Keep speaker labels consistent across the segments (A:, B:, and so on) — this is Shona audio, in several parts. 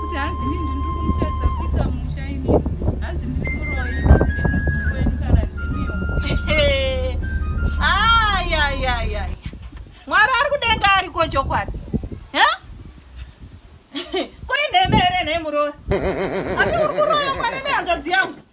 A: kuti hanzi ndini ndiri kumutarisa kuita musha ini hanzi ndiri muroyi nemuzukuru wenyu kana ndimiwo
B: ayayaya mwari ari kudenga ariko chokwadi koinheme here nhemurori ati uri kuroya mwana nehanzvadzi yangu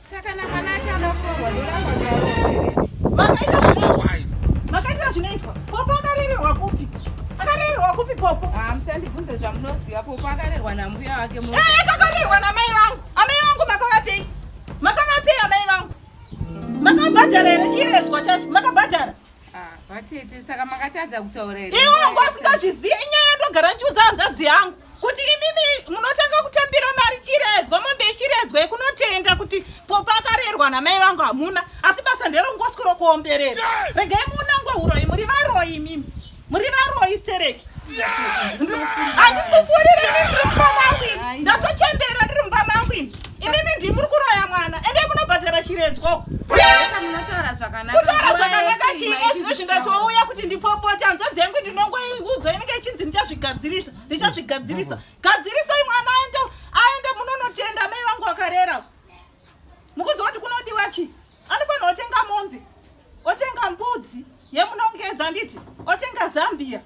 B: Saka na
A: kana achada kurohwa ndoramba Vakaita zvinoitwa. Vakaita
B: zvinoitwa. Popo akarererwa kupi? Akarererwa kupi Popo? Ah, musandibvunze
A: zvamunoziva. Popo akarerwa nambuya wake mu. Eh, akarerwa namai
B: vangu. Amai vangu makavapei? Makavapei amai vangu? Makabhadhara here chiyevedzwa chacho? Makabhadhara? Ah, vatete
A: saka makatadza kutaura here iwe wangu asingazvizive
B: inyaya ndogara ndichiudza hanzvadzi yangu kuti imimi munotanga kutambira mari chiredzwa mombe ichiredzwa yekunotenda kuti popa akarerwa namai vangu hamuna asi basa nderongoswi rokuomberera regai muunangwe uroyi muri varoyi imimi muri varoyi stereki handisi kufuurira ini ndiri mumba mangu ini ndatochembera ndiri mumba mangu ini imimi ndii muri kuroya mwana ende munobhadhara chiredzwa
A: kutaura zvakanaka
B: chii ezvino zvingatouya kuti ndipopota hanzva dzengu ndinongoiudzwa inenge ichinzi ndichazvigadzirisa ndichazvigadzirisa gadzirisai mwana aende aende munonotenda mai vangu vakarera mukuziva kuti kunodiwa chii anofanira otenga mombe otenga mbudzi yemunongedzwa nditi otenga zambia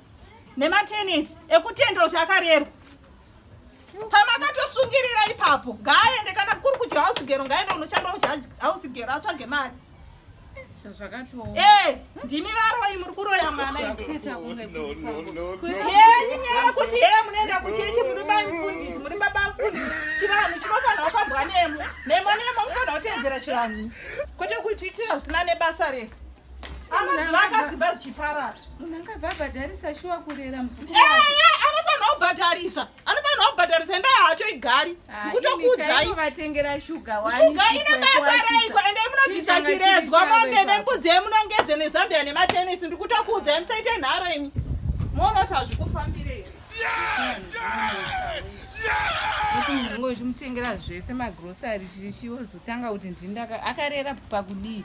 B: nematenesi ekutendera kuti akarerwa pamakatosungirira ipapo ngaaende kana kuri kudya hausigero ngaaende unoshanda uhausgero atsvage mari zvazvakatoo eh! ndimi varoyi muri kuroya mwana
A: yenyaya
B: kuti hee munoenda kuchechi muri maimfundisi muri babamfundisi chivanhu chinofanira kufambwa nemo nemo nemo mufanira kuteedzera chivanhu kwete kuititira zvisina nebasa rese anozivakadzimba zichiparara munhu angabva
A: abhadharisa shuwa kurera muzukuru anofanira
B: kubhadharisa anofanirwa kubhadharisa imba yacho igari ah, kutokuudzai vatengera shuga
A: shuga ine basa
B: reiko ende munobvisa chiredzwa mombe nembudzi yemunongedze nezambia nematenisi ndiri kutokuudzai musaite nharo imi moona kuti hazvikufambirei
A: kuti munhu ngozi mutengera zvese magrosari chichozotanga kuti ndini akarera pakudii